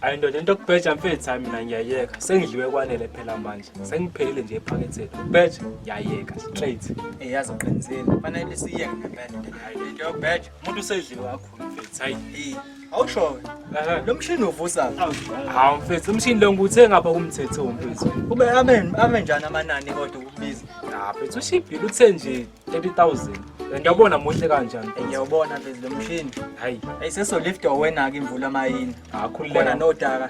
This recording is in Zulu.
ayi ndoda into kubheja mfethu hayi mina ngiyayeka sengidliwe kwanele phela manje sengiphelile nje ephaketheni kubheja ngiyayeka straight eyazi uqinisile fanele siyeke ngempela into hayi ngiyobheja umuntu usedliwe kakhulu mfethu hayi Awushowe. Lo mshini uvusa. Hawu mfethu umshini lo nguthe ngapha kumthetho mfethu. Kube amen ame njani amanani kodwa ukubiza. Cha mfethu ushibhile uthe nje 30000. Ngiyabona muhle kanjani. Ngiyawubona mfethu lo mshini. Hayi. Ayiseso lift awena ke imvula mayini. Akhululeka. Khona nodaka.